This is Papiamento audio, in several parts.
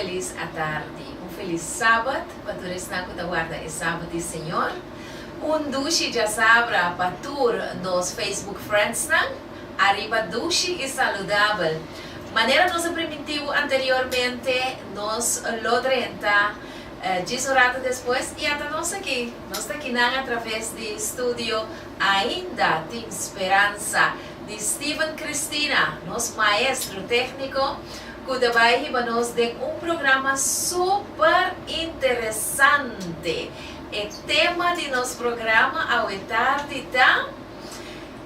Felis atardi, un felis Sabat pa tur esnan ku ta warda e Sabat di Señor. Un dushi djasabra pa tur nos Facebook friendsnan. Ariba dushi i saludabel! Manera nos a primintibu anteriormente, nos lo drenta djis un ratu despues i ata nos aki, nos ta kinan atraves di studio, ainda tin speransa. di Steven Cristina, nos maestro técnico, cu ta bay hiba nos den un programa super interesante. E tema di nos programa awe tardi ta,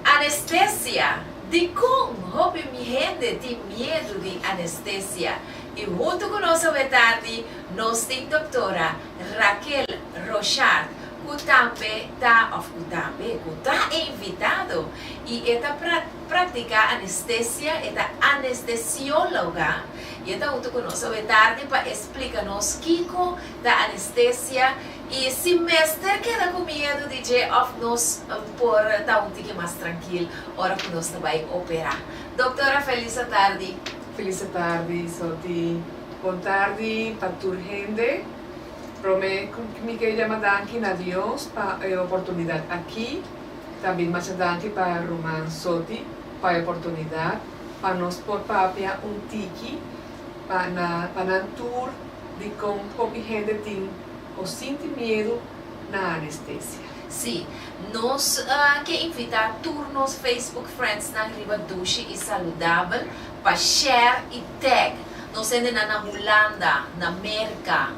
Anestesia, dicon hopi mi hende tin miedu di anestesia? Y hunto cu nos awe tardi nos tin Doctora Raquel Rochard, ku tambe ta òf ku tambe ku ta e invitado i e ta praktiká anestesia, e ta anestesióloga i e ta huntu ku nos awe tardi pa e splika nos kiko ta anestesia i si mester keda ku miedu di dje òf nos por ta un tiki mas trankil ora ku nos ta bai operá. Doktora Felisa tardi. Felisa tardi Soti. Bon tardi pa tur hende. Prome mi ke yama danki na Dios pa e oportunidat aki, ta bin masha danki pa ruman Soti pa e oportunidat pa nos por papia un tiki pa na pa nan tur di kon hopi hende tin o sinti miedu na anestesia. Si, nos ke invita tur nos Facebook friendsnan riba Dushi i Saludabel Pa Cher i Teg, nos hende na na Hulanda, na Merka,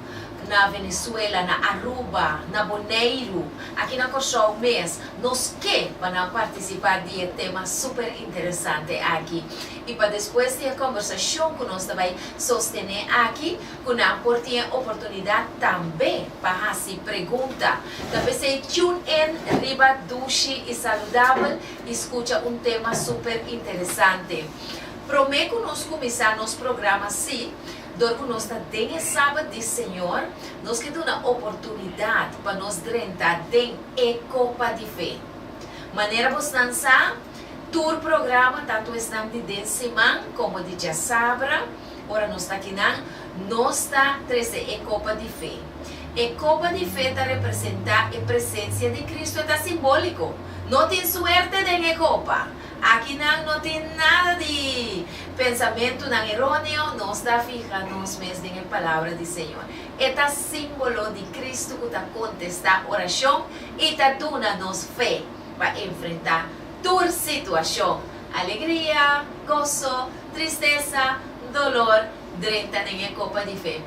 na Venezuela, na Aruba, na Boneiru, aki na Kòrsou mes, nos ke pa nan partisipá di e tema súper interesante aki. I pa despues di e kòmbersashon ku nos ta bai sostené aki, ku nan por tin e oportunidat tambe pa hasi pregunta. Ta p'esei tune in riba Dushi i Saludabel! I skucha un tema super interesante. Promé ku nos kuminsá nos programa si, dor ku nos ta den e Sabat di Señor, nos ke duna oportunidat pa nos drenta den e kopa di fe. Manera bosnan sa, tur programa, tantu esnan di den siman komo di djasabra, Ora nos ta kinan, nos ta trese e copa di fe. E copa di fe ta representa e presencia di Cristo, e ta simbolico. No tin suerte den e copa. Akinan no tin nada di pensamentunan eroneo, nos ta fiha nos mes den e palabra di Señor. E ta simbolo di Cristo cu ta contesta oracion y ta duna nos fe pa enfrenta tur situacion, alegria, gozo, Tristesa, dolor, drenta den e copa di fe.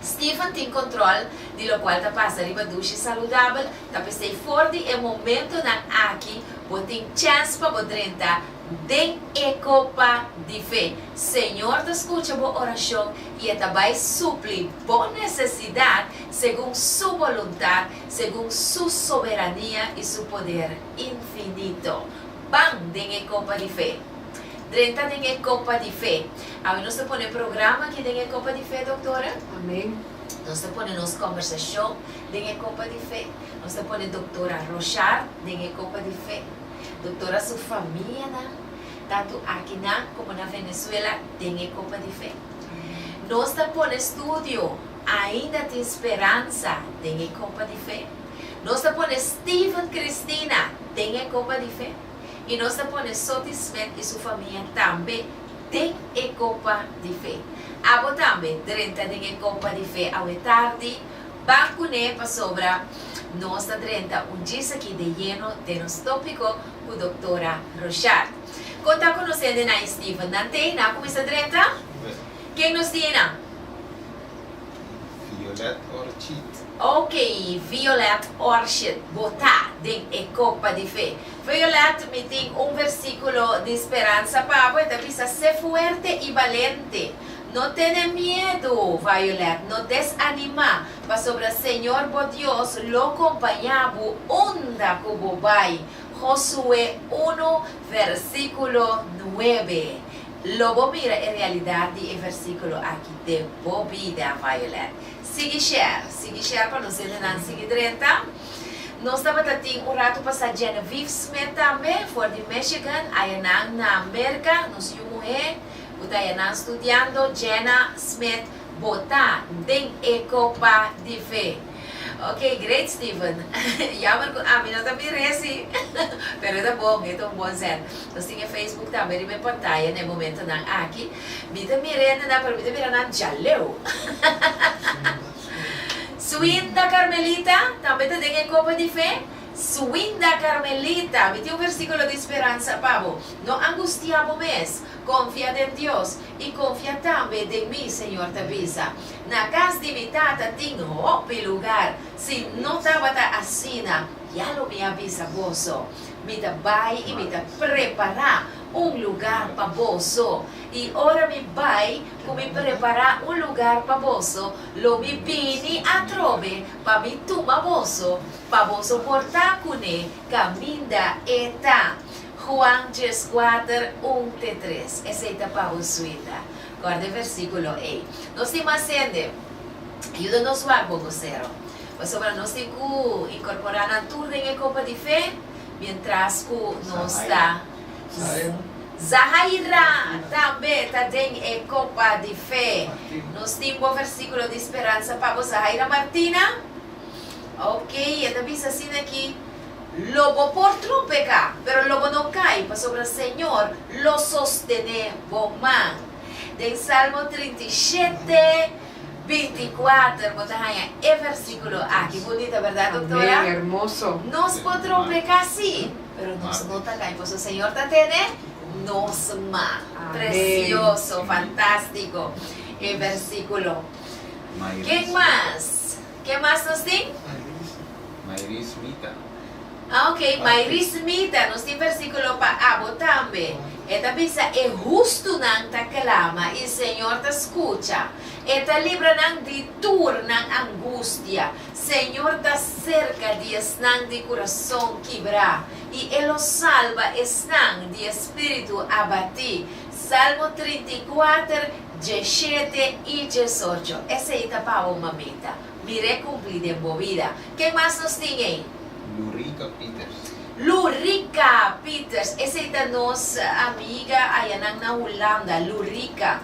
Stephen tin control di locual ta pasa riba dushi saludabel, ta p'esey for di e momentonan aki bo tin chance pa bo drenta den e copa di fe. Señor ta scucha bo oracion y E ta bay supli bo necesidad segun Su voluntad, segun Su soberania y Su poder infinito. Ban den e copa di fe. Drenta den e copa di fe. Awe nos ta pone e programa aki den e copa di fe, doctora. Amen. Nos ta pone nos conversacion den e copa di fe. Nos ta pone doctora Rochard den e copa di fe. Doctora su famianan, tanto akinan como na Venezuela, den e copa di fe. Nos ta pone studio Ainda tin speransa den e copa di fe. Nos ta pone Steven Cristina den e copa di fe. i nos ta pone sotisfet i su famia tambe den e kopa di fe. Abo tambe drenta den e kopa di fe awe tardi, ban kuné pasobra nos ta drenta un djis aki de yeno den nos tópiko ku doktora Rochard. Kon ta konosende nan i Steven? Nan t'ei? Nan a kuminsá drenta? Ken nos tin einan? Violet Orchid. Ok, Violet Orchid, bo ta den e copa di fe. Violet, mi tin un versiculo di speransa pa bo, e ta bisa, Sé fuerte y valente. No tene miedo, Violet, no desanima, pasobra Señor bo Dios lo compaña bo unda cu bo bai. Josué uno, versiculo nuebe. Lo bo mira e realidat di e versíkulo aki den bo bida, Violet. Sigui share, sigui share pa nos helenan sigui drenta. Nos tabata tin un ratu pasá Genevieve Smith tambe, for di Michigan, ayanan na Merka, nos yu muhé ku ta ayanan studiando, Jenna Smith, bo ta den e kopa di fe. Ok great Steven Jammer cu ami no ta mira e si pero e ta bon e ta un bon zet. Nos tin e Facebook tambe riba e pantaya na e momentonan aki. Mi ta mira hendenan pero mi ta mira nan djaleu. Swinda Carmelita tambe ta den e copa di fe. Swinda Carmelita mi tin un versiculo di speransa pa bo. No angustia bo mes. Confia den Dios y confia tambe den mi Señor ta bisa. Na cas di mi tata tin hopi lugar, si no tabata asina, ya lo mi a bisa boso. Mi ta bai y mi ta prepara un lugar pa boso. Y ora mi bai cu mi prepara un lugar pa boso, lo mi bini atrobe pa mi tuma boso, pa boso por ta cu ne caminda e ta. Juan dies kuater un te tres, Esey ta pa bo suita. guarda e versíkulo ei. Nos tin mas hende, yuda nos wak bo bosero, pasobra nos tin ku inkorporá nan tur den e kopa di fe miéntras ku nos ta Zahai. Zahaira tambe ta den e kopa di fe. Nos tin bo versíkulo di speransa pa bo, Zahaira Martina? Ok, e ta bisa asina aki, Lobo por tropeca, pero lobo no cai, pasobra Señor lo sostene bo man. Den Salmo trinta i shete, binti i kuater bo ta haña e versiculo aki. Bunita, berdad, doctora? Amén, hermoso. Nos por tropeca, sí, pero nos no ta cai, pasobra Señor ta tene nos man. Amén. Precioso, fantastico e versiculo. Ken mas? Ken mas nos tin? Mayris Mita. Ah, ok, Mayris Mita. Nos tin versikulo pa abo tambe. E ta bisa, E hustunan ta klama, i Señor ta skucha. E ta libra nan di tur nan angustia. Señor ta serka di esnan di kurason kibrá, i e lo salba esnan di e spiritu abatí. Salmo trinta i kuater, dje shete i dje socho, esei ta pa bo mamita. Mir'é kumpli den bo bida. Ken mas nos tin ei? Lurica Pieters. Lurica Pieters, esei ta nos amiga ayanan na Hulanda. Lurica.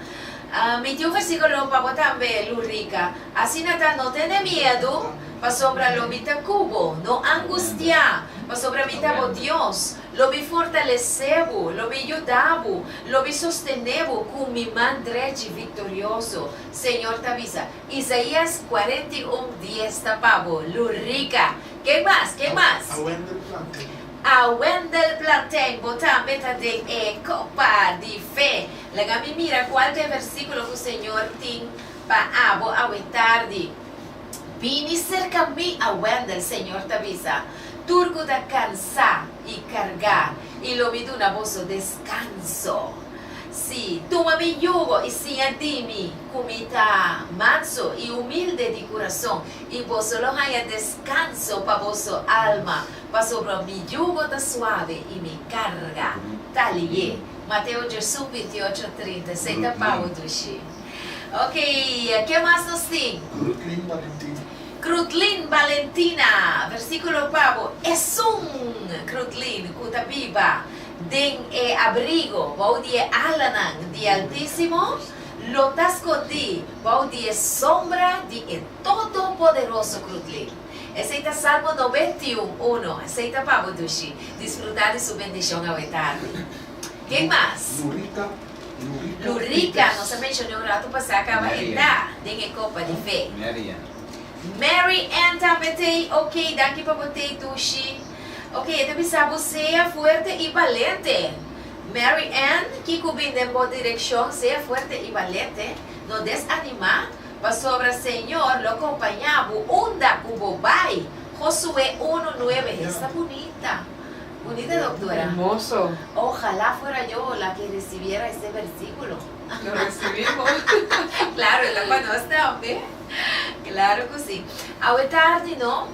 Mi tin un versíkulo pa bo tambe, Lurica. Asina ta, no tende miedu, pasobra lo mi ta ku bo. No angustiá, pasobra mi ta bo Dios. Lo mi fortalesé bo, lo mi yuda bo, lo mi sostené bo ku mi man drechi viktorioso, Señor ta bisa. Isaías cuarenta y un dies ta pa bo, lu rica. Ken mas? Ken mas? A Wendel Plantin. A Wendel Plantin, bo tambe ta den e kopa di fe. Laga mi mira kual ta e versíkulo ku Señor tin pa abo awe tardi. Bini serka mi, a Wendel, Señor ta bisa, tur ku ta kansá i kargá, i lo mi duna boso deskanso. Sí, tuma mi yugo i siña di mi, ku mi ta manso i umilde di kurason, i boso lo haña deskanso pa boso alma, pasobra mi yugo ta suave i mi karga ta lié. Mateo djosu, binti ocho, trinta i seis ta pau dushi. Okey, ke mas nos tin? Krutlin Balentina. Krutlin Balentina, versikulo okpabo, Esun Krutlin ku ta biba den e abrigo bou di e alanan di e Altisimo lo ta skondí bou di e sombra di e Todopoderoso Krutlin. Esei ta Salmo noventa i un, uno. Esei ta pa bo dushi disfrutá di su bendishon awe tardi. Ken mas? Norita Lu Rica, nos a mencion'é un ratu pasá, caba entá den e copa di fe. Mary Ann. Mary Ann tambe t'ei, ok, danki pa bo t'ei dushi. Ok, e ta bisá bo sea fuerte i balente. Mary Ann, kiko bin den bo direccion, sea fuerte i balente, no desanimá, pasobra Señor lo compañá bo unda cu bo bai. Josué unu nuebe, esta bunita. Bunita doktora. Hermoso. Ojalá fuera yo la que recibiera este versículo. Lo recibimos. Claro, e ta pa nos tambe. Claro cu si. Awe tardi no,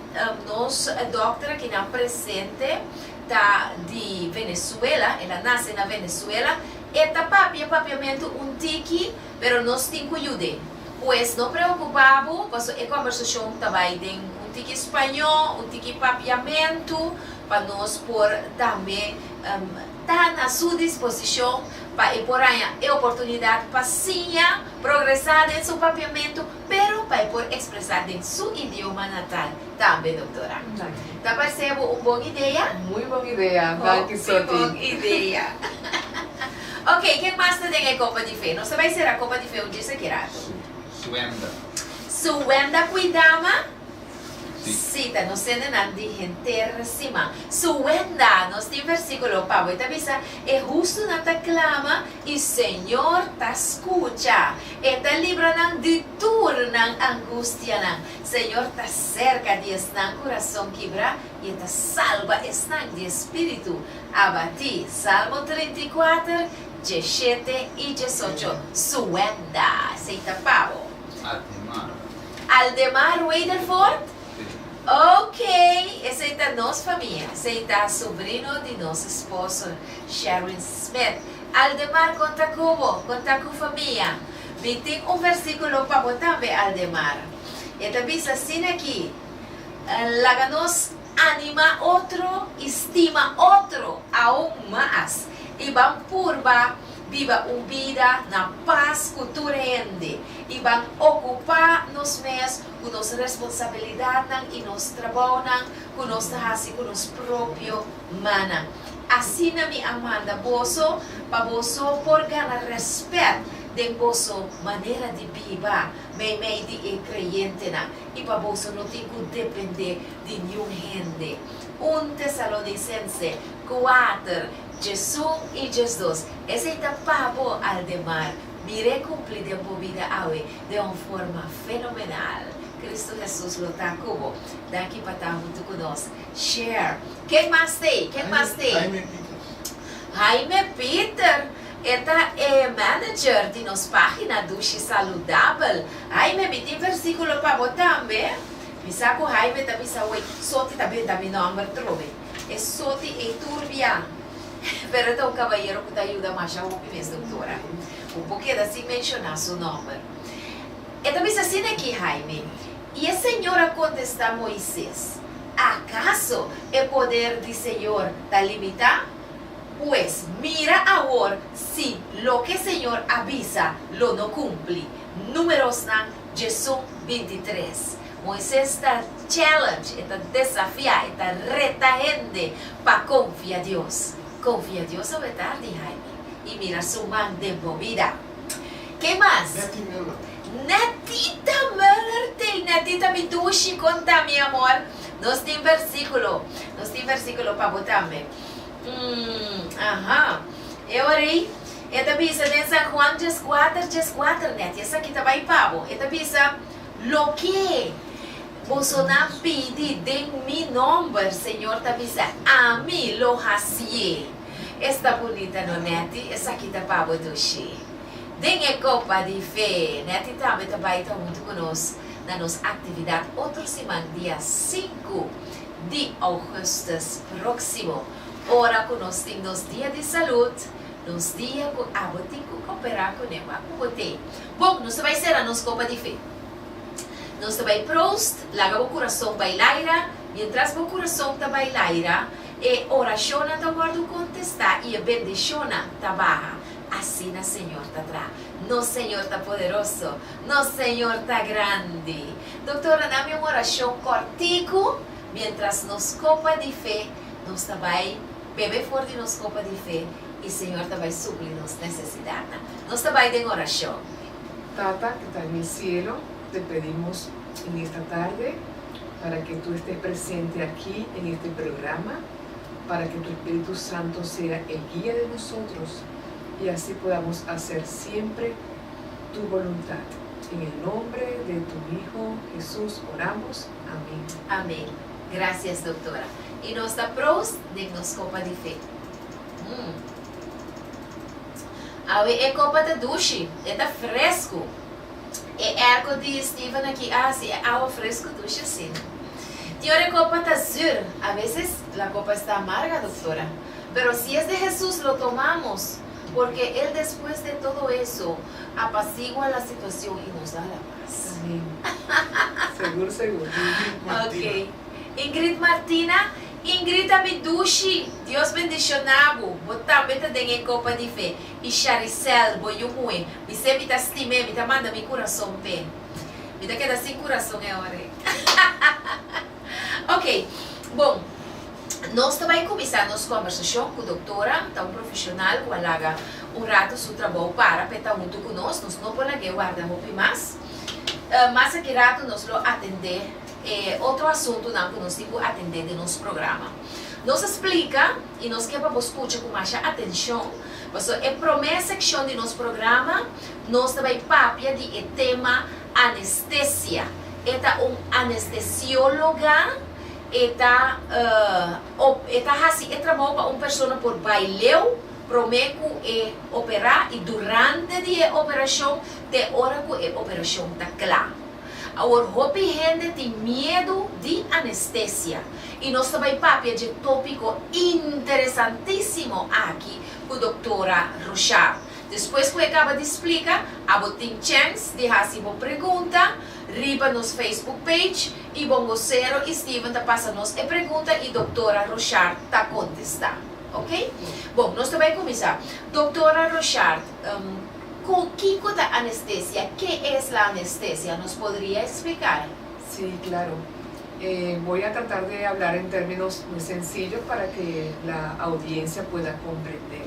nos dokter aki nan presente ta di Venezuela, el a nace na Venezuela. E ta papia papiamento un tiki, pero nos tin cu yud'e. Pues no preocupa bo paso e conversacion ta bay den un tiki spaño, un tiki papiamentu pa nos por tambe ta na su disposicion pa e por haña e oportunidad pa siña, progresa den su papiamentu pero pa e por expresa den su idioma natal tambe doctora. Ta parse bo un bon idea? Muy bon idea, danki Soti. Muy bon idea. Oke, ken mas ta den e kopa di fe? Nos ta bai sera kopa di fe un djis aki rato. Su, su hemda. Su hemda kuidama? Si. Si, ta nos sende nan di henter siman. Su hemda, nos tin versíkulo pa bo, i ta bisa, E hustunan ta klama, i Señor ta skucha. E ta libra nan di tur nan angustianan. Señor ta serka di esnan ku rason kibrá, i E ta salba esnan di e spiritu Abatí, Salmo trinta i kuater, dje shete i dje socho, Suenda, esei ta pa bo. Aldemar. Aldemar Rutherford? Sí. Ok, esei ta nos famia, esei ta sobrino di nos esposo, Sharon Smith. Aldemar, kon ta ku bo? Kon ta ku famia? Mi tin un versíkulo pa bo tambe, Aldemar. E ta bisa asin'aki, Laga nos Anima otro i stima otro aun mas i ban purba biba un bida na pas ku tur hende i ban okupá nos mes ku nos responsabilidatnan i nos trabounan ku nos ta hasi ku nos propio mannan. Asina mi a manda boso pa boso por gana rèspèt den boso manera di biba meimei di e kreyentenan. I pa boso no tin ku dependé di niun hende. Un Tesalonisense kuater, djes un i djes dos, Esei ta pa bo al den mar, mir'é kumpli den bo bida awe den un forma fenomenal. Kristu Hesus lo ta ku bo. Daki pa ta huntu ku nos. Share. Ken mas t'ei? Ken mas t'ei? Jaime Pieter. Jaime Pieter! E ta e manager di nos pagina Dushi Saludabel. Jaime, mi tin versiculo pa bo tambe. Mi sa cu Jaime ta bisa awey, Soti ta benta mi nomber trobe. E Soti ey tur bian. Pero e ta un cabayero cu ta yuda masha hopi mes doctora. Bo por keda sin menciona su nomber. E ta bisa asina aki, Jaime, y e Señor a contesta Moises, Acaso e poder di Señor ta limita? Pues, mira awor si loke Señor a bisa lo no cumpli. Numerosnan, Djesun bintitres. Moises ta challenge, e ta desafia, e ta reta hende pa confia Dios. Confia Dios awe tardi, Jaime, y mira su man den bo bida. Ke mas? Netty Muller. Netita Muller tei. Netita mi dushi con ta mi amor. Nos tin versiculo. Nos tin versiculo pa bo tambe. Umm, aha. E oa rei, e ta bisa den San Juan djes kuater, djes kuater nèt, i esaki ta bai pa bo. E ta bisa, Loke bosonan pidi den mi nòmber, Señor ta bisa, ami lo hasié. Esta bunita no nèt, i esaki ta pa bo dushi. Den e kopa di fe nèt i tambe ta bai ta huntu ku nos na nos aktividat otro siman dia sinku. di Augustus próksimo. Ora ku nos tin nos dia di salud, nos dia ku abo tin ku koperá kuné pa ku bo te. Bon, nos ta bai sera nos kopa di fe. Nos ta bai Proost, laga bo kurason bai laira. Miéntras bo kurason ta bai laira, e orashonnan ta wòrdu kontestá i e bendishonnan ta baha. Asina Señor ta traha. Nos Señor ta poderoso! Nos Señor ta grandi! Doktor a dami un orashon kòrtiku miéntras nos kopa di fe nos ta bai bebe for di nos kopa di fe i Señor ta bai supli nos nesesidatnan. Nos ta bai den orashon. Tata ku ta den e sielo, te pedimos en esta tarde para ke Tu este presente aki en este programa, para ke Tu Espíritu Santo sea e guia de nosotros i asi podamos hacer siempre Tu boluntad. En e nombre de Tu Hijo, Hesus, oramos. Amen. Amen. Gracias doctora. Y nos ta proos den nos copa di fe. Mmm. Awe e copa ta dushi. E ta frescu. E airco di Steven aki a haci e awa frescu dushi asina. Tin ora e copa ta zur. A veces la copa esta amarga doctora. Pero si es de Hesus lo tomamos. Porque el despues de todo eso apacigua la situacion y nos da la paz. Amén. Segur segur. Ingrid Martina. Ok. Ingrid Martina, Ingrid a mi dushi. Dios bendiciona bo. Bo tambe ta den e copa di fe. Y Sharicel, bo yu muhe. Mi se mi ta stime, mi ta manda mi curason p'e. Mi ta keda sin curason e ora ei. Ok, bon, nos ta bai kuminsá nos kòmbersashon ku doktora, ta un profeshonal ku a laga un ratu su trabou para pa e ta huntu ku nos, nos no por lag'é warda hopi mas. Mas aki ratu nos lo atendé e otro asuntunan ku nos tin ku atendé den nos programa. Nos a splika i nos ke pa bo skucha ku masha atenshon, pasobra e promé sekshon di nos programa nos ta bai papia di e tema Anestesia, E ta un anestesiologa, e ta op, e ta hasi e trabou pa un persona por bai leu prome ku e operá i durante di e operashon te ora ku e operashon ta kla. Awor hopi hende tin miedu di anestesia i nos ta bai papia dje tópiko interesantísimo aki ku doktora Rochard Despues cu e caba di splica, abo tin chance di haci bo pregunta riba nos Facebook page y Bongocero y Steven ta pasa nos e pregunta y Doctora Rochard ta contesta. Ok? Bon, nos ta bay cuminsa. Doctora Rochard, cu kico ta anestesia? Ke es la anestesia? Nos podria explicar? Si, claro. Voy a tratar de hablar en terminos muy sencillo para que la audiencia pueda comprender.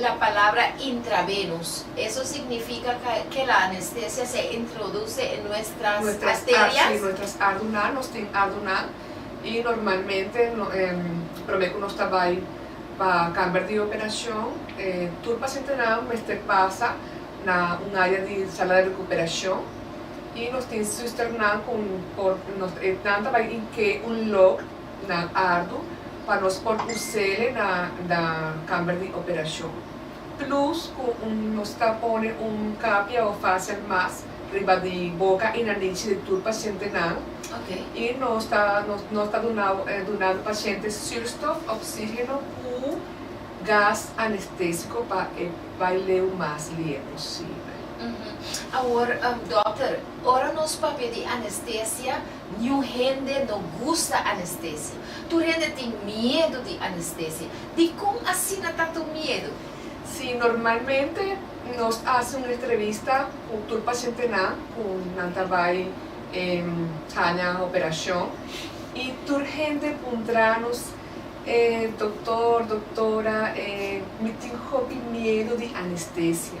La palabra intravenus, eso significa ca que la anestesia se introduce en nuestras Nuestras arterias? arterias, si, nuestras arduna, nos tin arduna y normalmente prome cu nos ta bay pa camber di operacion tur pacientenan mester pasa na un area di sala di recuperacion y nos tin susternan cu por nos, nan ta bay in ke un log. nan ardu pa nos por us'e na na kamber di operashon. Plus ku nos ta pone un kapia o facial mask riba di boka i na nichi di tur pashentenan. I nos ta nos ta dunau dunando pashente surstof, oxigeno, ku gas anestesiko pa e bai leu mas lier posibel. Awor, dokter, ora nos papia di anestesia, Niun hende no gusta anestesia. Tur hende tin miedu di anestesia. Dikon asina ta tu miedu? Si, normalmente nos a hasi un entrevista ku tur pashentenan ku nan ta bai haña operashon i tur hende puntra nos, Doktor, doktora, mi tin hopi miedu di anestesia.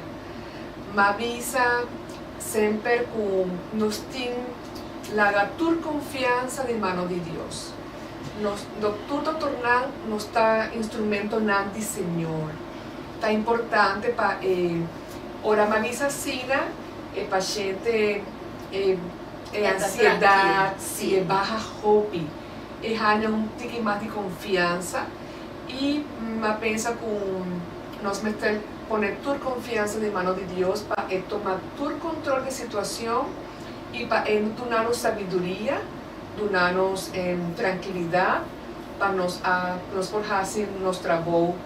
M'a bisa semper ku nos tin. Laga tur confiansa di mano di Dios. Nos doctor doctornan nos ta instrumentonan di Señor. Ta importante pa e ora manizz asina e paciente e e ansiedad si e baha hopi. E hanja un tiki mas di confiansa y a pensa cu nos mester pone tur confiansa di mano di Dios pa e toma tur control di situacion. i pa E lo duna nos sabiduria, duna nos trankilidat pa nos a nos por hasi nos trabou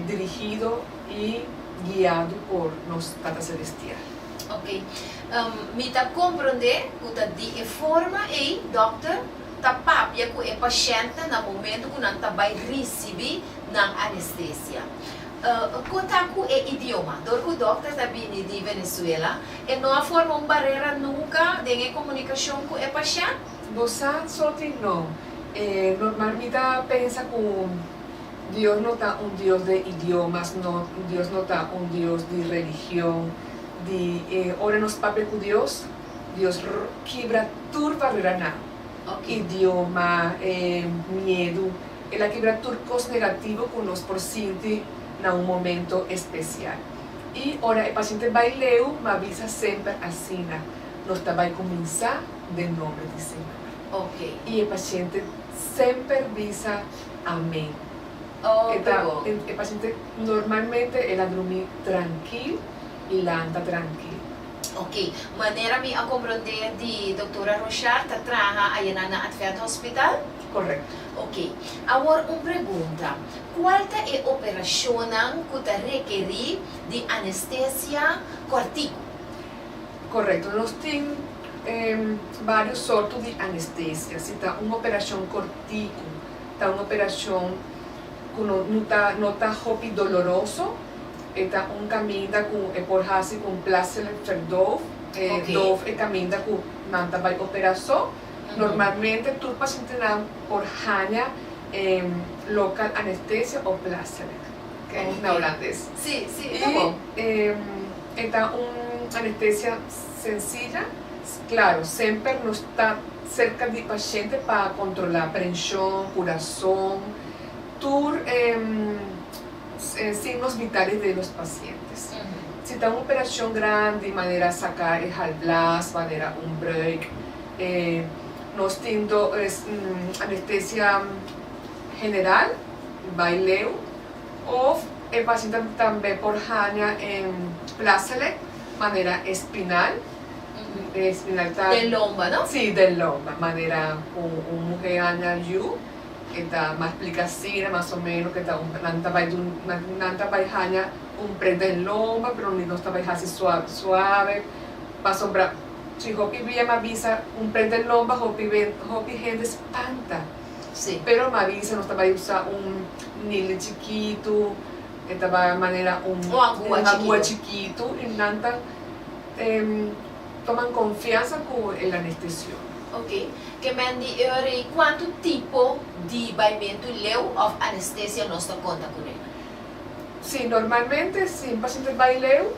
dirigido i guiado por nos Tata Selestial. Ok. Mi ta komprondé ku ta di e forma ei dòkter ta papia ku e pashèntnan na momentu ku nan ta bai risibí nan anestesia. Ku ta ku e idioma? Dor ku dòkternan a bini di Venezuela, e no a forma un barera nunka den e komunikashon ku e pashènt? Bo sa so tin no. E normal mi ta pensa ku Dios no ta un Dios di idiomas, no, Dios no ta un Dios di religion, di, ora nos papia ku Dios, Dios kibra tur bareranan. Oc idioma, e miedu, el a kibra tur cos negativo cu nos por sinti na un momento especial. Y ora e paciente bay leu, m'a bisa semper asina, nos ta bay cuminsa den nombre di Señor. Oc. Y e paciente semper bisa amen. Oc, ta bon. E paciente normalmente el a drumi trankil. i lanta trankil. Ok, manera mi a komprondé di doktora Rochard ta traha ayanan na Advent Hospital? Korekto. Ok, awor un pregunta, kual ta e operashonnan ku ta rekerí di anestesia kòrtiku? Korekto, nos tin varios sorto di anestesia. Si ta un operashon kòrtiku, ta un operashon ku no ta hopi doloroso, e ta un kaminda ku e por hasi ku un plaatselijk verdoof. E doof e kaminda ku nan ta bai opera so. Normalmente tur pasientenan por haña local anestesia òf plaatselijk. Kijk na Holandes. I e ta un anestesia sensilla. Klaro, semper nos ta serka di pashente pa kontrolá prenshon, kurason, tur e. Sin nos mitad di los pacientes. Si ta un operacion grandi manera saca e galblaas manera un breuk e nos tin do anestesia general bai leu of e paciente tambe por hanja en plaselec manera espinal, espinal ta den lomba no? Si den lomba manera un muhe hanja yu. e ta mas plica sira mas o meno ke ta un nan ta bai dun nan ta bai hanja un pret den lomba pero nos ta bai hasi suave suave pasobra si hopi bia ma bisa un pret den lomba hopi wen hopi hende spanta sí pero ma bisa nos ta bai usa un nili chikitu e ta bai manera un un angua chikitu y nan ta em. Toman konfiansa ku e lanestesio. Ok. Kemen di e ora ei kuantu tipo di baimentu leu òf anestesia nos ta konta ku rei? Sí, normalmente si un pasiente bai leu,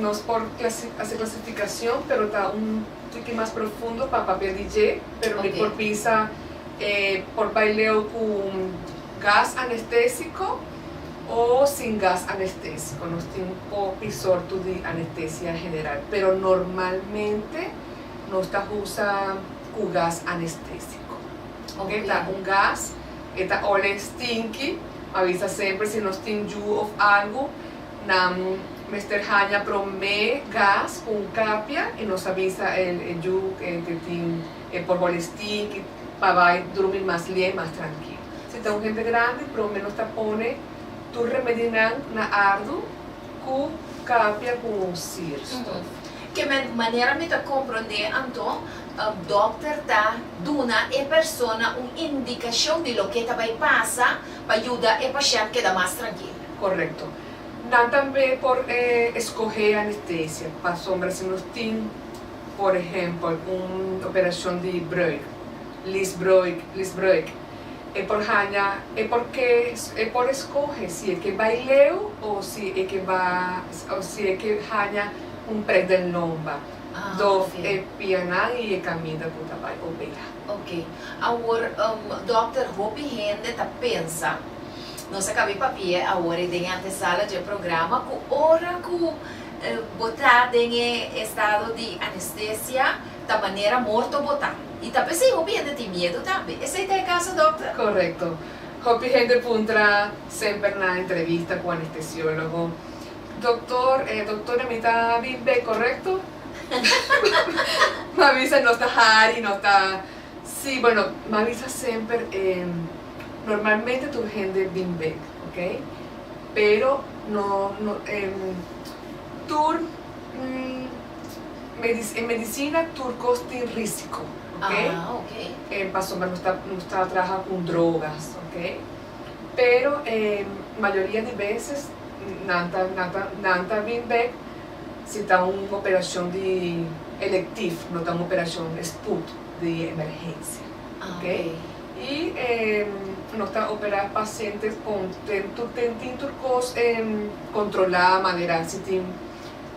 nos por hasi klasifikashon pero ta un tiki mas profundo pa papia di dje, pero mi por bisa e por bai leu ku gas anestesiko. o sin gas anestesi cu nos tin hopi sorto di anestesia general pero normalmente nos ta usa cu gas anestesico. Oke ta un gas e ta ole stinky ma bisa semper si nos tin yu of algo nan mester haña prome gas cu un capia y nos a bisa el yu e tin E por holi stiki pa bai drumi mas lié, mas trankil. Si ta un hende grandi, promé nos ta pone tur remedinan na ardu ku kapia ku un sirstof. Ke manera mi ta komprondé anto, dòkter ta duna e persona un indikashon di loke ta bai pasa pa yuda e pashènt keda mas trankil. Korekto. Nan tambe por eskohé anestesia pasobra si nos tin por ehempel un operacion di bruik, leasebruik, leasebruik, e por haña, e por ke, e por escoge si e ke bai leu o si e ke ba, o si e ke haña un prek den lomba, dof e pianan y e caminda cu ta bai opera. Ok, awor, dokter, hopi hende ta pensa, nos a cabe papia awor e den e antesala dje programa, cu ora cu. botá den e estado di anestesia ta manera morto botá. I ta p'esei hopi hende tin miedu tambe. Esei ta e kaso, dòkter? Korekto. Hopi hende puntra semper na entrevista ku anestesiólogo, Doktor, e doktornan mi ta bin bek korekto? M'a bisa nos ta hari, nos ta si. Bueno, m'a bisa semper, normalmente tur hende bin bek, oké? Pero no no tur e medicina tur cos tin risico ok pasobra nos ta nos ta traha con drogas ok pero e mayoria di veces nan ta nan ta nan ta bin bek si ta un operacion di elective no ta un operacion di spoed di emergencia ok. Y no ta opera pacientes con ten tur ten tin tur cos controla manera si tin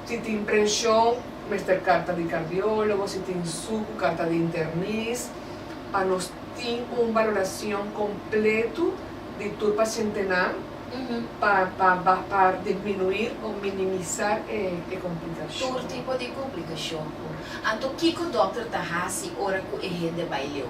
si tin presion mester carta di cardiologo si tin sucu carta di internis pa nos tin un valoracion completo di tur pacientenan pa pa ba pa disminuir o minimizar e e complicacion. Tur tipo di complicacion cu. Anto kico doctor ta haci ora cu e hende bay leu?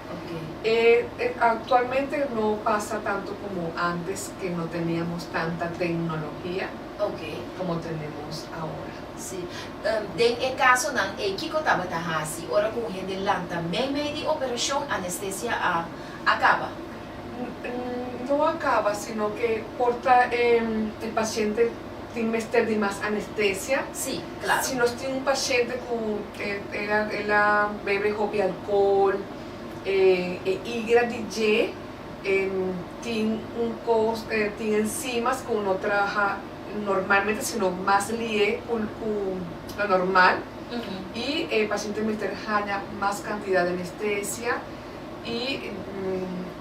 Actualmente no pasa tanto como antes que no teníamos tanta tecnología como tenemos ahora. Sí. Den e casonan ey kico tabata haci ora cu un hende lanta meimei di operacion, anestesia a acaba? No acaba, sino que por ta e paciente. Tin mester di mas anestesia? Sí, claro. Si nos tin un paciente cu el a bebe hopi alcohol, e igra di dje tin un cos, tin enzimas cu no traha normalmente sino mas lihe cu lo normal y e paciente mester haña mas cantidad di anestesia y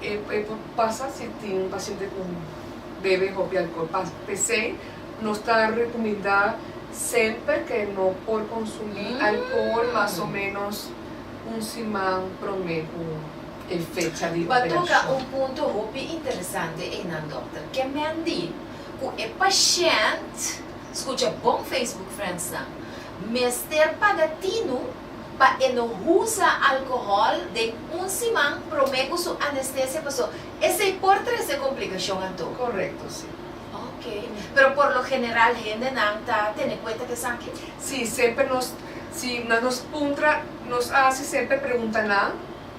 e por pasa si tin un paciente cu. bebe hopi alcohol pas. Pesey nos ta recominda semper ke no por consumi alcohol mas o menos un siman prome cu e fecha di operacion. Bo a toca un punto hopi interesante ey nan dokter. Ke men di cu e pashent, scucha bon Facebook friends nan, mester paga tinu pa e no husa alcohol den un siman prome cu su anestesia paso. Esei por trece complicashon anto? Correcto, si. Ok. Pero por lo general hendenan ta tene cuenta cu esaki? Si, semper nos, si na nos puntra, nos a haci semper preguntanan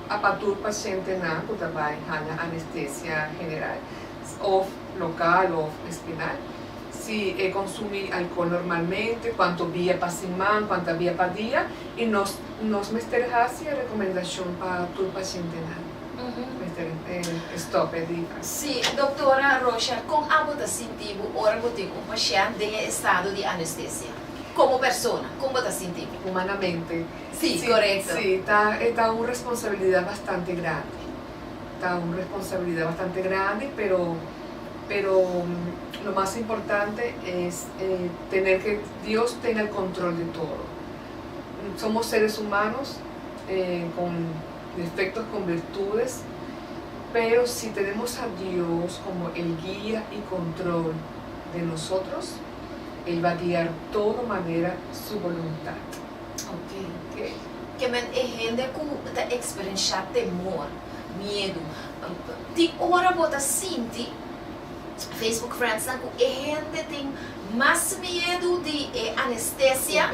a pa tur pacientenan cu ta bay haya anestesia general, of local of espinal, si e consumi alcohol normalmente, cuanto bia pa siman, cuanta bia pa dia, y nos, nos mester haci e recomendacion pa tur pacientenan. Si, Doktora Rosha, kon abo ta sinti bo ora bo tin un pashènt den e estado di anestesia? Komo persona, kon bo ta sinti bo? Humanamente. Si, korekto. Si, ta, e ta un responsabilidat bastante grandi. Ta un responsabilidat bastante grandi, pero, pero lo mas importante es tener ke Dios tenga el kontrol de todo. Somos seres humanos kon. Perfecto con virtudes, pero si tenemos a Dios como el guia y control den nosotros, el va guiar todo manera su voluntad. Ok. Ok. Ke men e hende ku ta eksperenshá temor, miedu. Tin ora bo ta sinti, Facebook friendsnan, ku e hende tin mas miedu di e anestesia,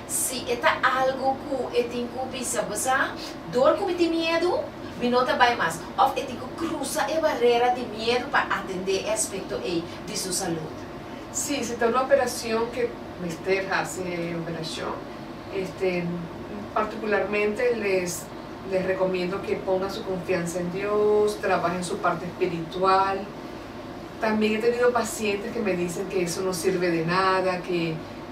Si e ta algu ku e tin ku bisa bo sa, dor ku mi tin miedu, mi no ta bai mas, òf e tin ku krusa e barera di miedu pa atendé e aspekto ei di su salud. Sí, si ta un operashon ku mester hasi e operashon, este, partikularmente les les rekomiendo ku e ponga su konfiansa en Dios, trabaha en su parte spiritual. También e tenido pasientes ku m'e disen ku eso no sirbe de nada, ku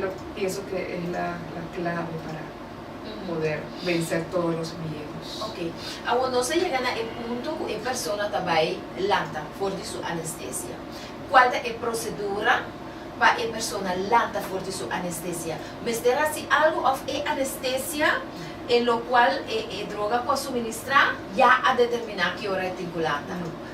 Lo pienso que es la la clave para poder vencer todos los miedos. Ok. Awor nos a yega na e punto cu e persona ta bay lanta for di su anestesia. Cual ta e procedura pa e persona lanta for di su anestesia? Mester haci algo of e anestesia e lo cual e e droga cu a suministra ya a determina ki ora e tin cu lanta? No.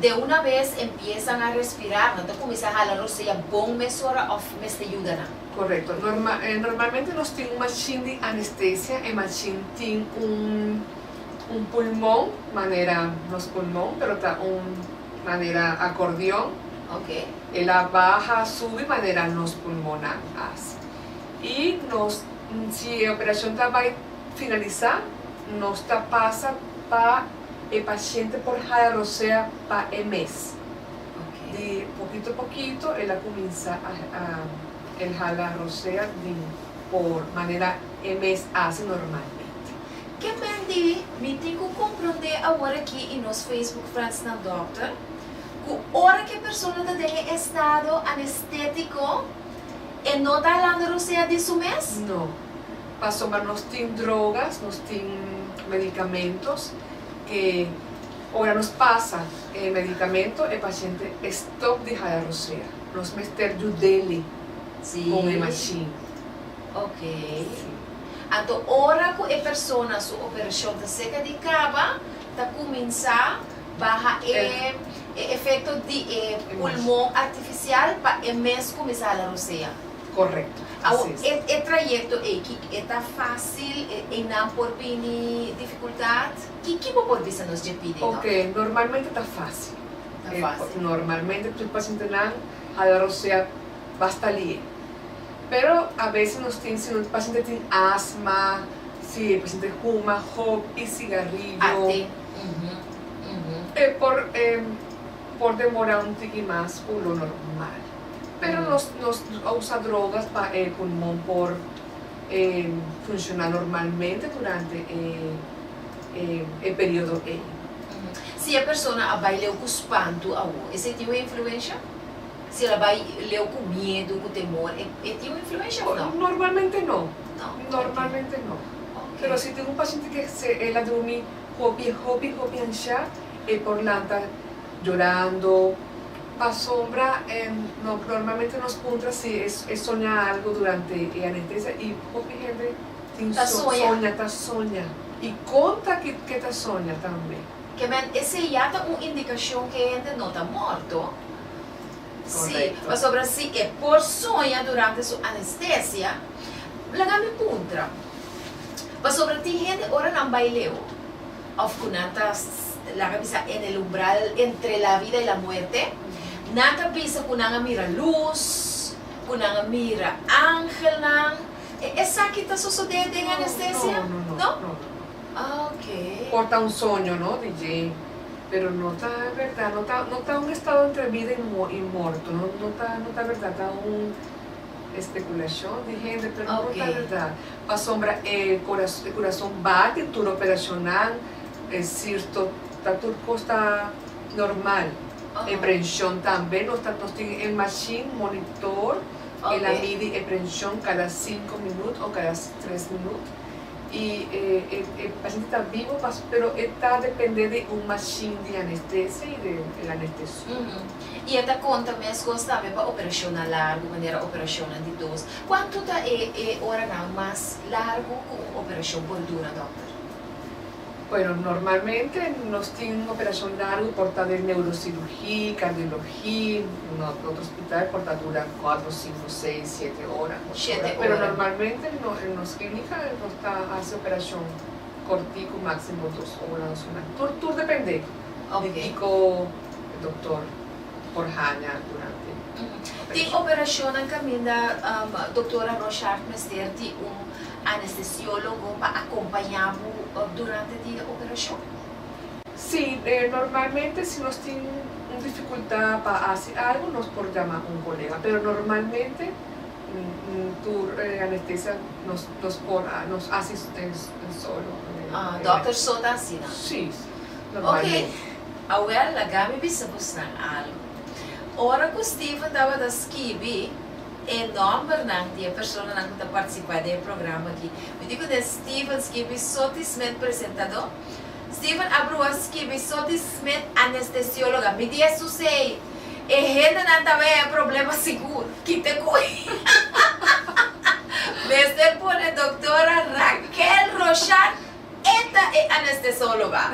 De una bes empiesan a respirar, nan ta cuminsa hala rosea bon mesora of mester yuda nan? Correcto. Normalmente nos tin un machine di anestesia, e machine tin un pulmon manera nos pulmon pero ta un manera acordeon, e la baha subi manera nos pulmonnan haci. Y nos si e operacion ta bay finalisa nos ta pasa pa. e paciente por haya rosea pa e mes. Di pokito pokito el a cuminsa el hala rosea di por manera e mes haci normalmente. Ke men di mi tin cu compronde awor aki y nos Facebook friends nan dokter, cu ora ke persona ta den e estado anestetico e no ta halando rosea di su mes? No. pasobra nos tin drogas, nos tin medicamentos ke ora nos pasa e medicamento e paciente e stop di hala rosea. Nos mester judeli con e machine. Ok. Anto ora cu e persona su operacion ta seca di caba ta cuminsa baha e e efecto di e pulmon artificial pa e mes cuminsa hala rosea. Correcto. Awor, e e trayecto eki, e ta facil, e eynan por bini dificultad? Ki ki bo por bisa nos dje pidi no? Ok, normalmente ta facil. Ta E facil. normalmente tur pacientenan hala rosea basta lien. Pero a bese nos tin si un paciente tin asma, si e paciente huma hopi cigarrillo, Ate. Mhm. Mhm. e por e por demora un tiki mas cu lo normal. pero nos nos a usa drogas pa e pulmon por e funshona normalmente durante e e e periodo ei. Si e persona a bai leu ku spantu awor, esei tin un influensha? Si el a bai leu ku miedu, ku temor, e e tin un influensha òf no? Normalmente no. No, oke. Normalmente no. Oke. Pero si tin un pashiente ke se el a drumi hopi hopi hopi anshá e por lanta yorando. Pasobra normalmente nos puntra si e soña algu durante e anentesa i hopi hende tin soña, ta soña i kon ta ke ta soña tambe. Ke men esei ya ta un indikashon ke e hende no ta morto. Si, pasobra si e por soña durante su anestesia, laga mi puntra, pasobra tin hende ora nan bai leu. Of cu nan ta, laga bisa, en el umbral entre la vida y la muerte, nan ta bisa cu nan a mira luz, cu nan a mira angelnan. E esaki ta sosode den anestesia? No, no, no, no, no, no. Ah, ok. Por ta un soño, no, DJ? Pero no ta berdad, no ta, no ta un estado entre vida y y morto, no, no ta, no ta berdad, ta un. Espekulashon di hende pero no ta werdat pasobra e kurason bate tur operashonnan e sirto ta tur kos ta normal e prenshon tambe nos ta nos tin e mashin monitor e na midi e prenshon kada sinku minut o kada tres minut i e pashente ta bibo pero e ta depende di un mashin di anestesia i di el anestesio. I e ta konta meskos tambe pa operashonnan largu, manera operashonnan di dos. Kuantu ta e e oranan mas largu ku un operashon por dura, dòkter? Bueno, normalmente nos tin un operashon largu por ta den neurosirugí, kardiologí, no otro hospital por ta dura kuatro, sinku, seis, siete ora. Shete ora. Pero normalmente no en nos klínika nos ta hasi operashon kortiku, máksimo dos ora, dos ora i medio. Tur tur dependé di kiko. e doktor por haña durante operashon. Tin operashonnan kaminda Doktora Rochard mester di un anestesiólogo pa akompañá bo durante di e operashon? Sí. Normalmente si nos tin un difikultá pa hasi algu nos por yama un kolega, pero normalmente tur anestesia nos nos por nos hasi solo. Ah, dòkter so ta asina? Sí, sí. Normalmente. Oké. Awèl, lagami bisa busnan algu. Ora ku Steven tabata skibi e nòmbernan di e personanan ku ta partisipá den e programa akí, mi tin ku den Steven skibi Soty Smith, presentadó, Steven Abrua skibi Soty Smith, anestesióloga. Mi di esun se'i, e hendenan ta wea e problema sigur. Kite ku e mester pone doktora Raquel Rochan. E ta e anestesologa.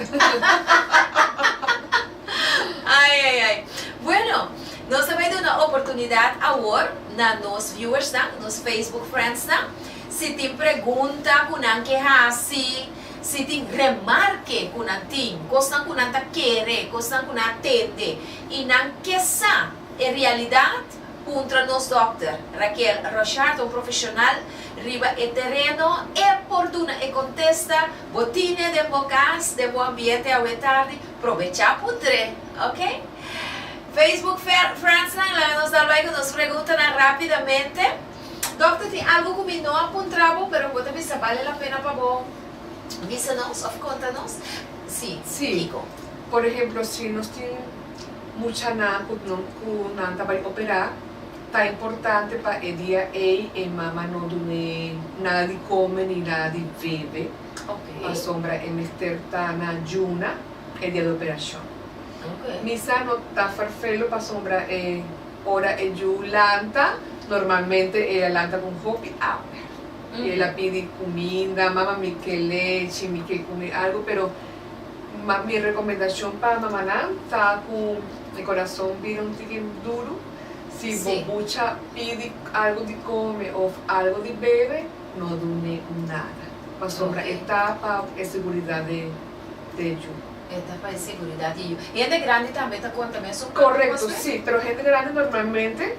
Ai ai ai. Bueno, nos ta bai duna oportunidad awor na nos viewersnan, nos Facebook friendsnan. Si tin pregunta cu nan ke haci, si tin remarke cu nan tin, cosnan cu nan ta kere, cosnan cu nan a tende y nan ke sa e realidad, Puntra nos dòkter, Raquel Rochard, un profeshonal riba e tereno, e por duna e kontesta bo tine den bo kas, den bo ambiente awe tardi, probechá pu dre, ok? Facebook friendsnan laga nos dal bai ku nos preguntanan rápidamente. Dòkter, tin algu ku mi no a puntra bo, pero ku bo ta bisa bale la pena pa bo bisa nos òf konta nos? Sí, Kiko. Sí. Por ehemplo, si nos tin. muchanan cu cu nan ta bay operá, ta importante pa e dia ey e mama no dun'é nada di come ni nada di bebe, pasobra e mester ta na juna e dia di operacion. Misa no ta ferfelo pasobra e ora e yu lanta, normalmente ey a lanta cu un hopi awer y ey la pidi cuminda, mama mi ke lechi, mi ke cumi algo, pero Mi recomendacion pa mamanan ta cu e corazon bira un tiki duru, si bo bucha pidi algo di come of algo di bebe, no dun'e nada, pasobra e ta pa e seguridad di e yu. E ta pa e seguridad di e yu. Hende grandi tambe ta contamina e sumatu pues Correcto, mi? si, pero hende grandi normalmente,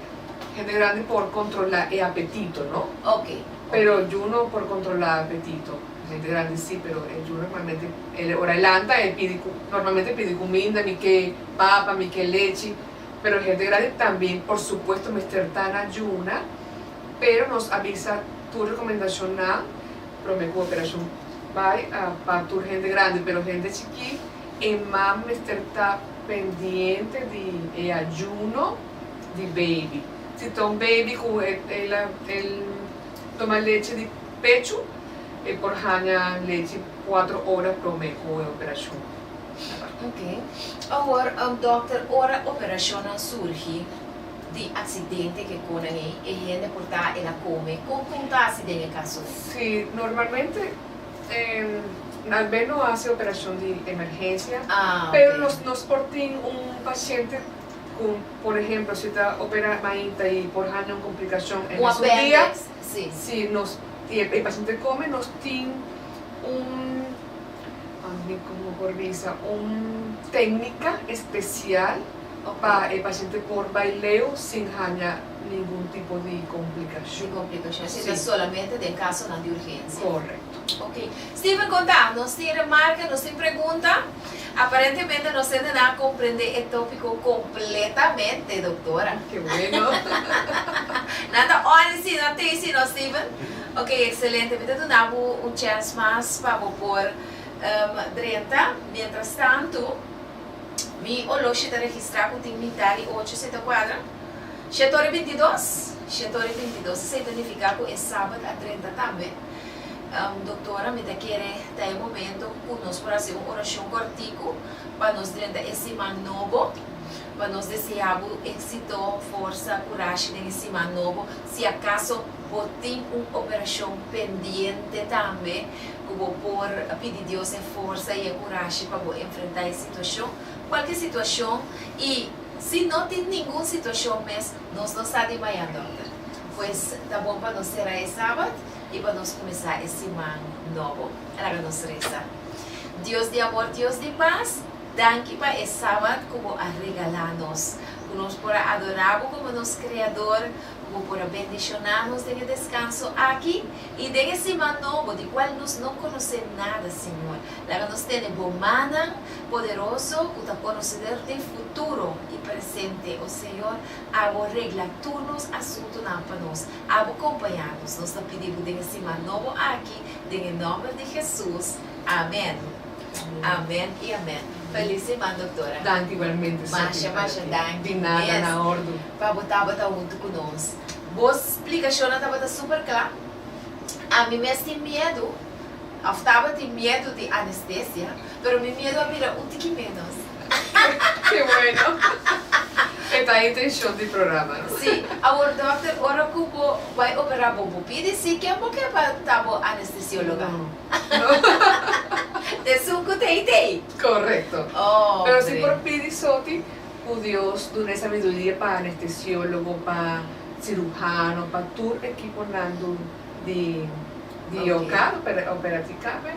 hende grandi por controla e apetito, no? Ok, ok. Pero yu no por controla apetito. Gente grandi sí, pero e yu normalmente el ora e lanta e pidi cu, normalmente pidi cuminda, mi ke papa, mi ke lechi, pero gente grandi también por supuesto mester ta na yuna, pero nos a bisa tur recomendacionnan prome cu operacion bay a pa tur gente grandi, pero gente chikí e mam mester ta pendiente di e ayuno di baby, si ta un baby cu el el. toma lechi di pechu e por haña lechi kuatro ora promé ku e operashon. Oke. Awor, dòkter, ora operashonnan surgi di aksidente ke konan ei, e hende por ta el a kome. Kon kon ta hasi den e kaso ei? Sí, normalmente al menos nos hasi operashon di emergensia, pero nos por tin un pashente cu por ehemplo si ta opera mainta y por hanja un complicacion en nos un dia si nos tiene pa e paciente come nos tin un un tecnica especial pa e paciente por bay leu sin hanja ningun tipo di complicacion si ta solamente den casonan di urgencia. Correcto. Ok. Steven conta, nos tin remarca, nos tin pregunta. Aparentemente nos hendenan a comprende e topico completamente, doctora. Ke bueno! Nan ta oren si, nan tei si no, Steven? Ok, excelente. Mi ta duna bo un chance mas pa bo por drenta. Mientrastanto, mi oloshi ta registra cu tin mita di ocho seta cuadra. Shetori bintidos? Shetori bintidos, sa ta nifica cu e Sabat a drenta tambe. Doktora, mi ta kere ta e momento ku nos por hasi un orashon kòrtiku pa nos drenta e siman nobo, pa nos deseá bo éksito, forsa, kurashi den e siman nobo. Si akaso bo tin un operashon pendiente tambe ku bo por pidi Dios e forsa i e kurashi pa bo enfrentá e situashon, kualke situashon i si no tin ningun situashon mes, nos lo sa di maya, dòkter. Pues ta bon pa nos será e Sabat. i pa nos kuminsá e siman nobo. Laga nos resa. Dios di amor, Dios di pas, danki pa e Sabat ku bo a regalá nos, ku nos por a adorá bo komo nos Kreador, ku bo por a bendishoná nos den e deskanso aki i den e siman nobo di kual nos no konosé nada, Señor. Laga nos tene Bo mannan poderoso ku ta konoseder di futuro i presente, o Señor. Abo regla tur nos asuntunan pa nos. Abo kompañá nos. Nos ta pidi bo den e siman nobo aki, den e nòmber di Hesus. Amèn. Amèn i amèn. Feliz siman, doktora. Danki igualmente, Sophie, para ti. Masha, masha danki. Di nada, na ordu. Mes pa bo tabata huntu ku nos. Bo splikashonnan tabata super kla. Ami mes tin miedu. Of tabatin miedu di anestesia, pero mi miedu a bira un tiki menos. Ke bueno! E ta intencion di programa, no? Sí. Awor dokter, ora ku bo bai operá bo, bo pidi sí? Ken bo ke pa ta bo anestesióloga? No, no. Te su ku te idei. Korekto. Hombre. Pero si por pidi soti ku Dios duna e sabiduria pa anestesiólogo, pa siruhano, pa tur ekiponan dun. di di yo kar pera opera di kabe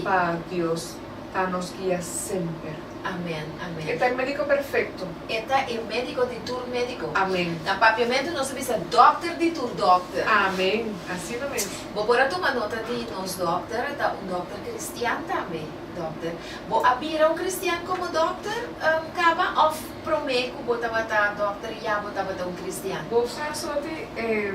pa Dios ta nos guia semper. Amen amen. E ta e medico perfecto. E ta e medico di tur medico. Amen. Na papiamento nos a bisa dokter di tur dokter. Amen. Asina mes. Bo por a tuma nota di nos dokter a ta un dokter kristian tambe. Dokter. Bo a bira un kristian komo dokter kaba of prome ku bo tabata dokter ya bo tabata un kristian? Bo sa asote e.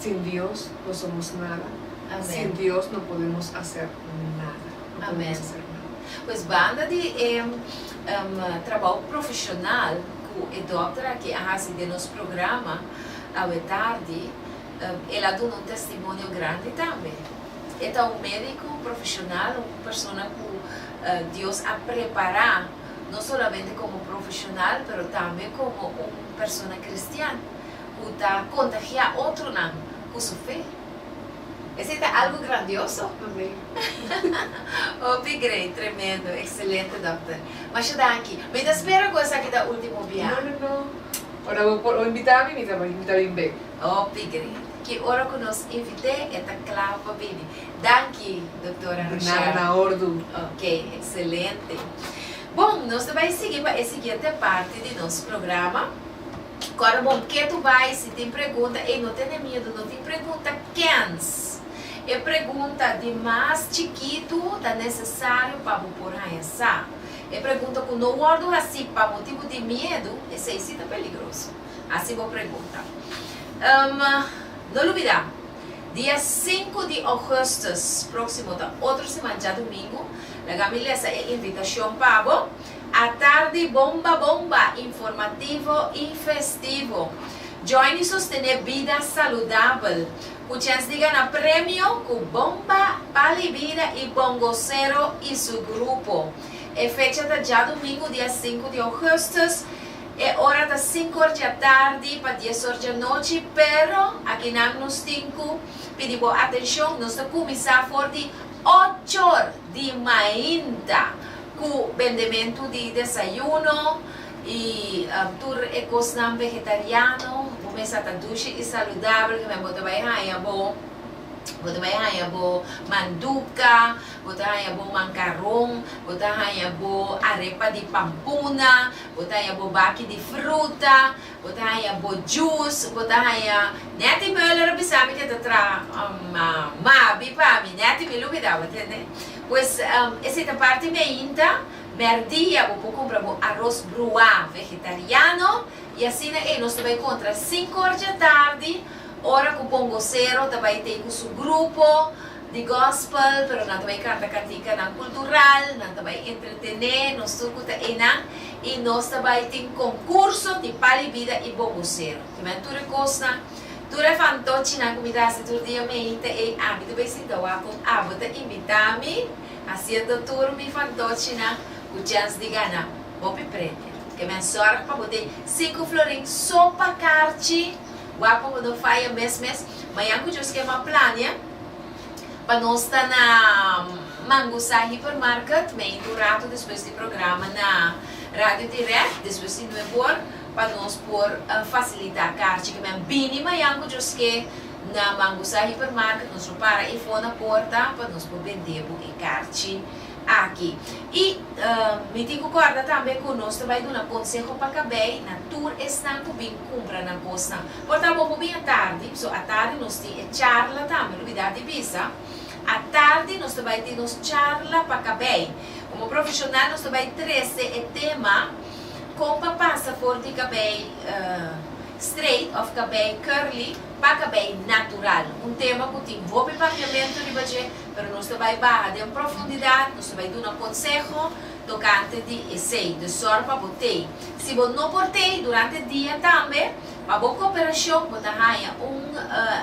Sin Dios no somos nada. Sin Dios no podemos hacer nada. Pues banda di e trabao profesional cu e dokter aki a haci den nos programa awe tardi, el a duna un testimonio grandi tambe. E ta un medico profesional, un persona cu Dios a prepara no solamente como profesional pero tambe como un persona cristian. ku ta kontagiá otronan ku su fe. Esei ta algu grandioso? Mamb'é. Hopi grei, tremendo, ekselente, dòkter. Masha danki. Mi ta spera ku esaki ta último biaha. No, no, no. Ora bo por invitá mi, mi ta bai, mi ta bin bek. Hopi grei. Ki ora ku nos invit'é, e ta kla pa bini. Danki, doktora Rochelle. Di nada, na ordu. Oké, ekselente. Bon, nos ta bai sigui pa e siguiente parti di nos programa. Kòrda bon ke tu bai si tin pregunta ey no tene miedu no tin pregunta kens e pregunta di mas chikitu ta nesesario pa bo por haña sa e pregunta ku no wòrdu hasí pa motibu di miedu esei si ta peligroso hasí bo pregunta um no lubidá dia sinku di ougùstùs próksimo ta otro siman djadumingu laga mi lesa e invitashon pa bo. A tardi bomba bomba, informativo i festivo. Joiny sostené bida saludabel ku chens di gana premio ku Bomba, Pali Bida i Bongocero i su grupo. E fecha ta djadumingu dia sinku di ougùstùs. E ora ta sinku or dja tardi pa dies or dja nochi pero akinan nos tin ku pidi bo atenshon nos ta kuminsá for di ochor di mainta. Ku bendementu di desayuno i tur e kosnan vegetariano, bo mes a ta dushi i saludabel, tambe bo ta bai haña bo, bo ta bai haña bo manduka, bo ta haña bo mankaron, bo ta haña bo arepa di pampuna, bo ta haña bo baki di fruta, Bo ta haña bo jus, bo ta haña, Netty Muller a bisa mi ke ta traha mabi pa mi, Netty mi lubida bo, tende? Pues esei ta parti meinta, mèrdia bo por kumpra bo aros bruá vegetariano i asina ei nos ta bai kontra sinku or dje tardi, ora ku Bongosero ta bai tei ku su grupo. di gospel, pero nan ta bai canta cantikanan cultural, nan ta bai entretene, nos truco ta enan, y nos ta bai tin concurso di pali bida y bongocero. Kiba tur e cosnan, tur e fantochinan cu mi ta haci tur dia mey ta ey, ami ta bai sinta wak con abo ta invita mi, haciendo tur mi fantochinan cu chens di gana hopi premio. Ke men zorg pa bo tin sinku florin so pa carchi, wak pa bo no faya mes mes, mayan cu djus kema plania, Pa nos ta na Mangusá Hypermarket meind un rato despues di programa na Radio Terecht, despues di nueboor, pa nos por fasilitá karchi ke men bini mayan ku djosk'é na Mangusá Hypermarket, nos lo para ei for na porta pa nos por bend'é bo e karchi aki. I mi tin ku kòrda tambe ku nos ta bai duna konseho pa kabei na tur esnan ku bin kumpra nan kosnan. Por ta bon bo bini atardi, so atardi nos tin e charla tambe, no bida di bisa. Atardi nos ta bai tin nos charla pa kabei. Komo profeshonal nos ta bai trese e tema kon pa pasa for di kabei streit òf kabei curly pa kabei natural. Un tema ku tin hopi papiamentu riba dje, pero nos ta bai baha den profundidat, nos ta bai duna konseho tokante di esei. Dor sòru pa bo tei. Si bo no por tei durante dia tambe. Pa bo cooperacion bo ta haña un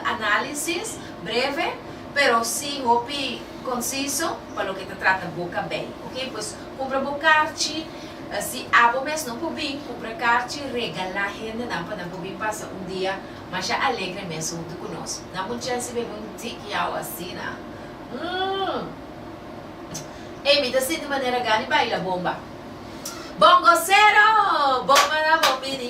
análisis breve pero si hopi conciso pa loke ta trata boca bay. Ok pues cumpra bo carchi, si abo mes no por bin cumpra carchi regala hendenan pa nan por bin pasa un dia masha alegre mes hunto cu nos. Nan bon chelsi bay bay un tik yaw asina mmm ey mi ta sinti manera gani baila bomba. Bongocero! Bomba na bo bini.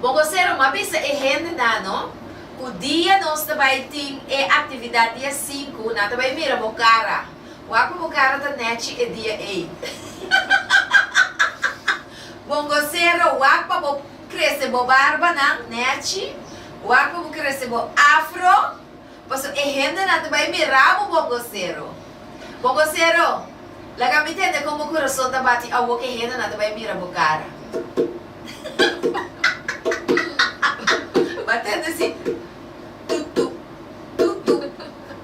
Bo kosero m'a bisa e hendenan no ku dia nos ta bai tin e aktividat dia sinku nan ta bai mira bo kara wak ku bo kara ta nèchi e dia ei. Bon kosero wak pa bo krese bo barbanan nèchi, wak pa bo krese bo afro. Paso e hendenan ta bai mira bo bongocero. Bongocero, laga mi tende con bo corazon ta bati awo que e hendenan ta bai mira bo cara. Bo a tende si. Tutu, tutu,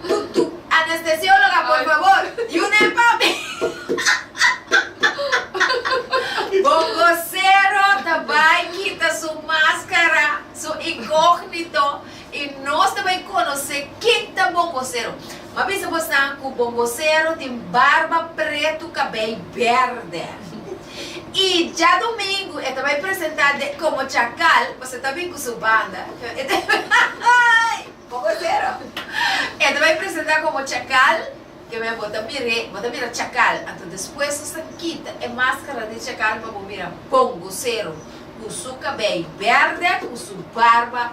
tutu. Anestesiologa, por favor, yu nen pa mi. Bongocero ta bai kita su mascara, su incognito. I nos ta bai conoce ke ta bongocero. M'a bisa bosnan cu bongocero tin barba pretu cabey berde. I djadomingo e ta bai presenta de como chacal pasobra ta bin cu su banda. E ta bai bongocero. E ta bai presenta como chacal cabey bo ta mir'e bo ta mira chacal anto despues nos ta kita e mascara di chacal pa bo mira bongocero cu su cabey berde cu su barba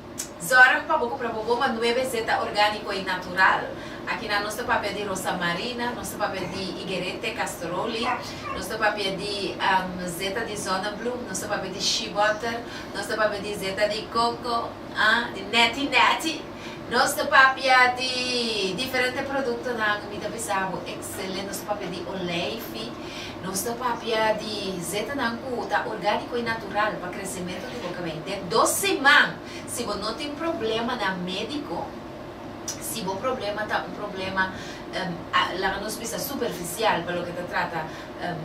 Zorg pa bo cu probo bo ma nuebe zeta organico y natural. Aki nan nos ta papia di rosa marina, nos ta papia di higuerete, castoroli, nos ta papia di zeta di zonnebloem, nos ta papia di shea butter, nos ta papia di zeta di coco, ah, di neti neti, nos ta papia di diferente productonan mi ta bisa bo excelente, nos ta papia di olijfi. Nos ta papia di zetanan cu ta organico y natural pa crecemento di bo cabei den dos siman. Si bo no tin problema na medico, si bo problema ta un problema, laga nos bisa, superficial pa loke ta trata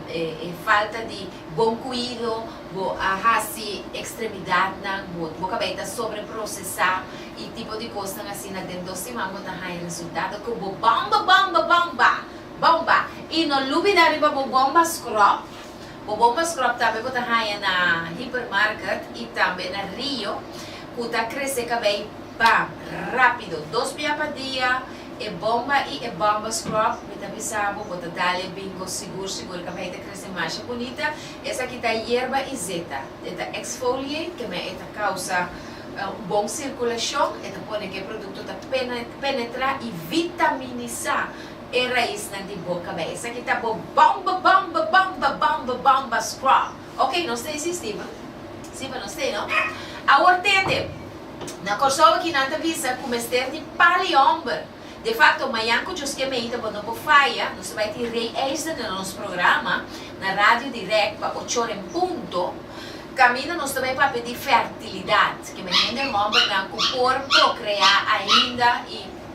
e falta di bon cuido, bo a haci extremidadnan, bo bo cabei ta sobreprocesa y tipo di cosnan asina den dos siman bo ta haya resultado cu bo bamba bamba bamba! Bomba. I no lubida riba bo bomba scrub. Bo bomba scrub tambe bo ta haña na Hypermarket i tambe na Rio ku ta krese kabei bam, rápido. Dos bia pa dia e bomba i e bomba scrub mi ta bisa bo bo ta dale bingo sigur sigur kabei ta krese masha bunita. Esaki ta yerba i zeta. E ta exfoliate kemey e ta kousa un bon sirkulashon. E ta pone ke e produkto ta penetrá i vitaminisá. e raisnan di bo kabei. Esaki ta bo bamba, bamba, bamba, bamba, bamba strong. Ok, nos ta hisi stima. Stima nos ta hei no. Awor tende, na Kòrsou aki nan ta bisa ku mester di pal i hòmber. De fakto, mañan ku djos ke mei ta bo no por faya, nos ta bai tin Ray Eisner na nos programa, na Radio Dirèk, pa ochor en punto. Kaminda nos ta bai papia di fèrtilidat, ke mester den hòmbernan ku por prokreá ainda i.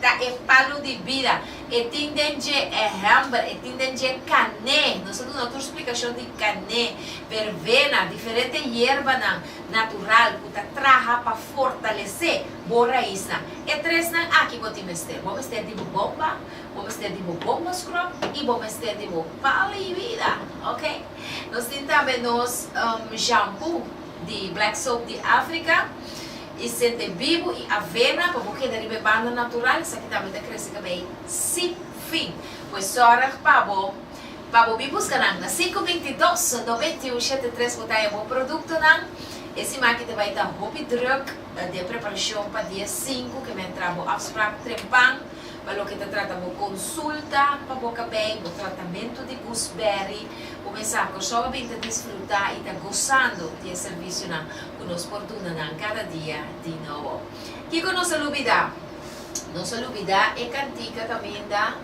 Ta e palu di bida. E tin den dje e hember, e tin den dje kané. Nos a duna tur splikashon di kané, verbena, diferente yerbanan natural ku ta traha pa fortalesé bo raisnan. E tresnan aki bo tin mester. Bo mester di bo bomba, bo mester di bo bomba scrub i bo mester di bo palu di bida. Ok. Nos tin tambe nos shampoo di Black Soap di Africa. I sete bibu i avena pa bo keda riba e banda natural, esaki tambe ta krese ka bay si fin. Pues zorg pa bo pa bo bin buska nan na sinku bintidos no bintiun shete tres bo taya bo produktonan. E siman aki ta bay ta hopi druk den preparashon pa dia sinku ke men tra bo afsprak trempan pa loke ta trata bo konsulta pa bo kabei, bo tratamentu di gusberi. Bo men sa Kòrsou a bin ta disfruta i ta gosando di e servisionan. cu nos por duna nan cada dia di nobo. Kico nos a lubida? Nos a lubida e cantica caminda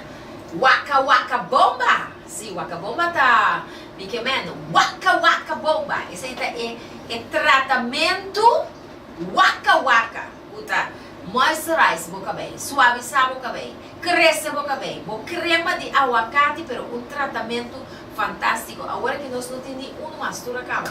Waka Waka Bomba! Sí, Waka Bomba ta bikemendo, Waka Waka Bomba! Esey ta e e tratamento Waka Waka cu ta moisturize bo cabei, suaviza bo cabei, crece bo cabei, bo crema di aguacati pero un tratamento fantastico. Awor aki nos no tin ni uno mas, tur a caba.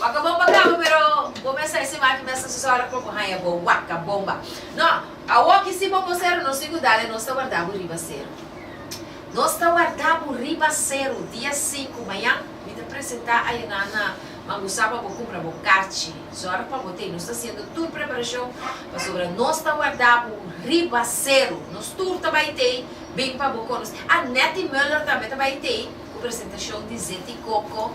Waka bomba kaba pero bo mester hasi maki mester su sora por bo haya bo waka bomba. No, awor ki si bo bo sero nos tin ku dale nos ta warda bo riba sero. Nos ta warda bo riba sero dia sinku mayan mi ta presenta Ayoná na Mangusá pa bo kumpra bo karchi. Sora pa bo ta e nos ta hasiendo tur preparashon pasobra nos ta warda bo riba sero. Nos tur ta bai t'ei bin pa bo konosé. Ah Netty Muller tambe ta bai t'ei ku presentashon di Zeti Koko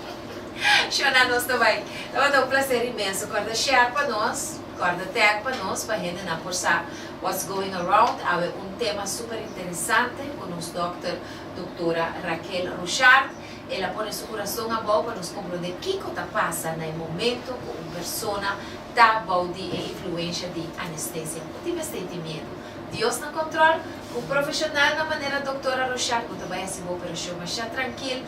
Shona nos ta bai. Tabata un placer inmenso corda share pa nos, corda tag pa nos pa hendenan por sa what's going around. Awe un tema super interesante cu nos dokter Doctora Raquel Rochard. Ela pone su curason abao pa nos comprende kico ta pasa na e momento cu un persona ta bao di e influencia di anestesia. No tin mester tin miedu. Dios na control. Cu profesional na manera Doctora Rochard bo ta bai haci bo operacion masha trankil.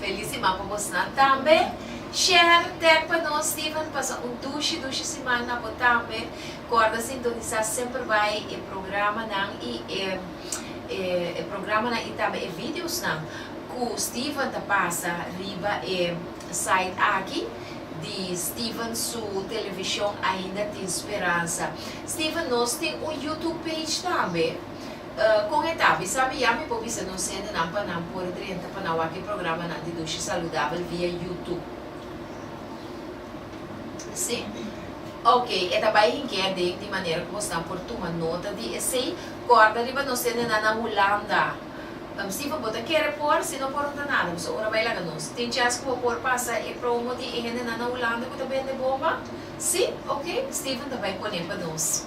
Feliz siman pa bosnan tambe. Share tek pa nos Steven pasa un dushi dushi siman na bo tambe corda sintonisa semper bay e programanan y e e programanan y tambe e videosnan cu Steven ta pasa riba e site aki di Steven su television ainda tin speranza Steven nos tin un YouTube page tambe. Kon e ta? Mi sa bia mi por bisa nos hendenan pa nan por drenta pa nan wak e programanan di Dushi Saludabel via YouTube. Sí? Ok, e ta bai hinkia den di manera ku bosnan por tuma nota di esei. Kòrda riba nos hendenan na Hulanda. Sí, bo ta kere por? Si no por no ta nada. Boso ora bai laga nos. Tin chèns ku bo por pasa e promo di e hendenan na Hulanda ku ta bende bomba? Sí? Ok, Steven ta bai pon'é pa nos.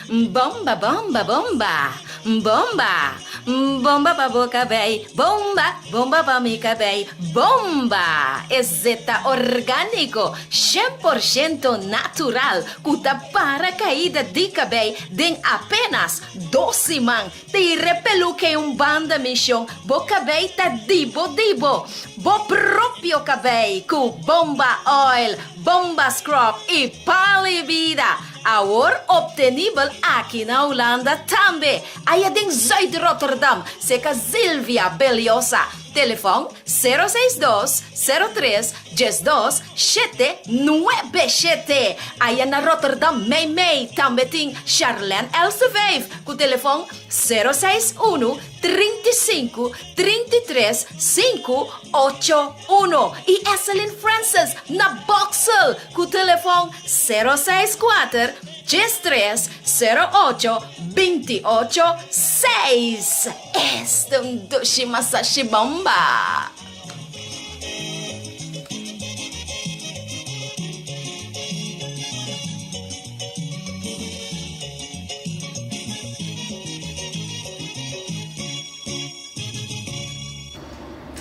M'bomba bomba bomba M'bomba M'bomba pa bo cabey Bomba Bomba pa mi cabey Bomba EZ ta orgánico Shen por shento natural Cu ta para caida di cabey Den apenas dos siman Tire peluke un banda mishon bo kabei ta dibo dibo bo propio kabei ku bomba oil, bomba scrub i palo i bida. Awor optenibel aki na Hulanda tambe. Aya den Zuid-Rotterdam seka Zilvia Beliosa. Telefon sero seis dos, sero tres, Dies dos, shete, nuebe shete. Aya na Rotterdam mei mei tambe tin Charlène Elseveef ku telefòn sero seis unu, trinta i sinku, trinta i tres, sinku, ocho, uno i Esselin Francis na Boksel ku telefòn sero seis kuater, djes tres, sero ocho, binti i ocho, seis. Eston Doshi Masashi Bamba.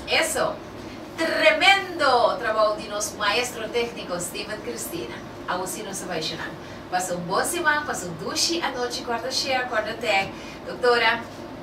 Eso! Tremendo trabou di nos maestro tecnico Steven Cristina. Awo si nos a bai shnan. Pasa un bon siman, pasa un dushi anochi, corda share, corda tag. Doctora.